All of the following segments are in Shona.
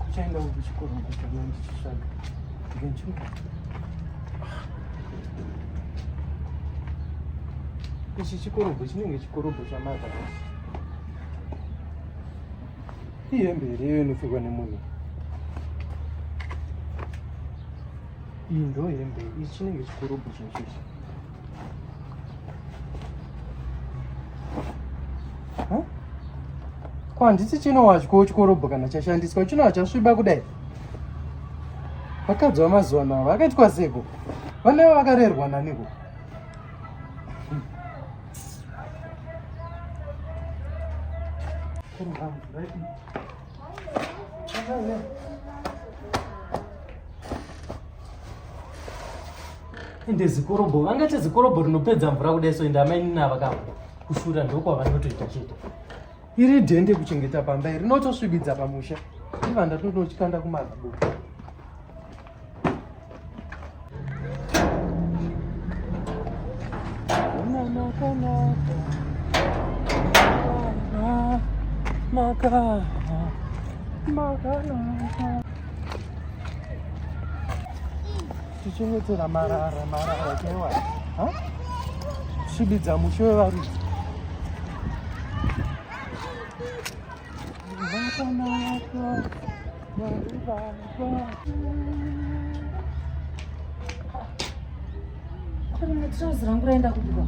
Kuchaenda kuchikoro kutanga ndichisvaga ngenchuka ichi chikorobho chinenge chikorobho chamata ihembe here iyo inopfekwa nemunhu iyi ndo hembe ichi chinenge chikorobho chinochichi ko handiti chinowadyawo chikorobho kana chashandiswa chinowa chasviba kudai vakadzi vamazuva navo vakaitwa seko vanaivo vakarerwa naniko Thank you. ende zikorobho vangati zikorobho rinopedza mvura kudai so ende amainini ava kavo kushura ndokwavanotoita chete iri dhende kuchengeta pamba iri rinotosvibidza pamusha ivanda totochikanda kumazibuku Maka, maka, maka, maka. Tichengetera marara marara chewa. Ha? Shibidza mushe wevaridzi. Vakanaka. Kuri mutrozi rangu raenda kubwa.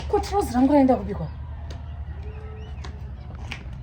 Ko trozi rangu raenda kubikwa.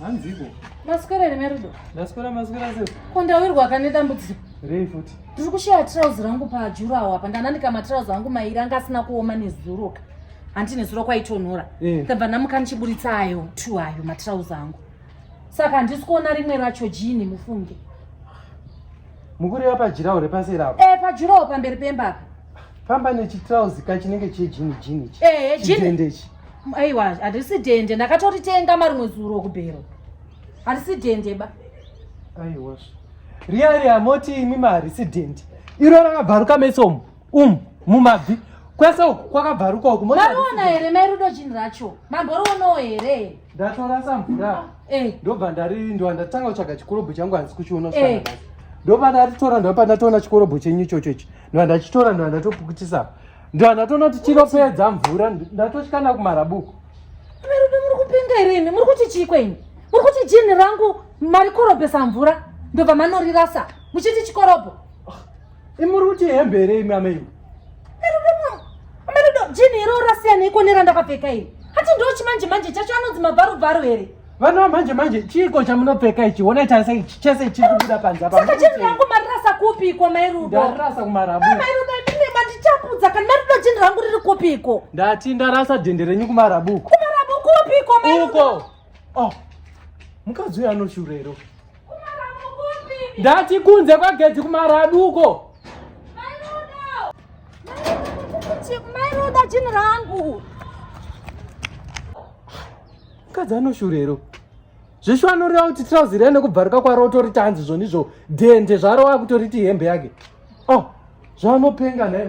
hanziko maswera here merudo ndaswera maswera se ko ndawirwa kane dambudziko rei futi ndiri kushaya trouse rangu pajurawo apa ndananika matrouse angu mairi anga asina kuoma nezuroka handi nezuroka kwaitonhora eh. ndabva ndamuka ndichiburitsa ayo t ayo matrouse angu saka handisi kuona rimwe racho jini mufunge mukureva pajirawo repaseri apo eh pajirawo pamberi pemba apa famba nechitrauzi ka chinenge chejini jini ichi eh chidende ichi aiwa handisi dende ndakatoritenga marimwe zuro kubhero handisi dende ba aiwa riya riya moti imi maharisi dende iro rakabvaruka mesomo um mumabvi kwese uku kwakabvaruka uku mariona here mairudo jini racho mamboriwonawo here ndatorasa mvura eh. ndobva ndari ndova ndatanga kutsvaga chikorobho changu hanzi kuchiona eh. ndobva ndatitora ndobva ndatoona chikorobho chenyu ichocho ichi ndova ndachitora ndova ndatopukutisa ndova ndatoona kuti chinopedza mvura ndatotyana kumarabuku varume muri kupenga here imi muri kuti chii kwenyu muri kuti jini rangu marikorobhesa mvura ndobva manorirasa muchiti chikorobho imuri kuti hembe here imi amai jini iro rasiyana iko nerandakapfeka iri hati ndo chimanje manje chacho anonzi mabvarubvaru here vana vamanje manje chiiko chamunopfeka ichi honai tarisa ichi chese chiri kubuda panze apasaka jini rangu marirasa kupi iko mairudo ndarirasa kumarabu mairudo imimi mandichapudza kana marido jini rangu riri kupi iko ndati ndarasa dhende renyu kumarabuko kumarabu kupi iko mairudo uko oh mukadzi uyo anoshurero ndati kunze kwagedhi kumaraduko mairuda chinhu rangu mukadzi anoshurero zveshu anoreva kuti trauzi rene kubvaruka kwaro utori tanzi zvonizvo dhende zvaro wakutoriti hembe yake o oh, zvaanopenga nhae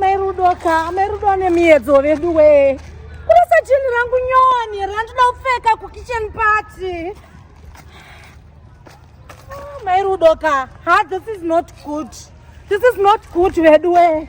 Mairudo ka, mairudo ane miedzo vedu we. Kurasa jini rangu nyoni, randoda kupfeka kukitchen party. Ah, mairudo ka, ha, this is not good. This is not good vedu we.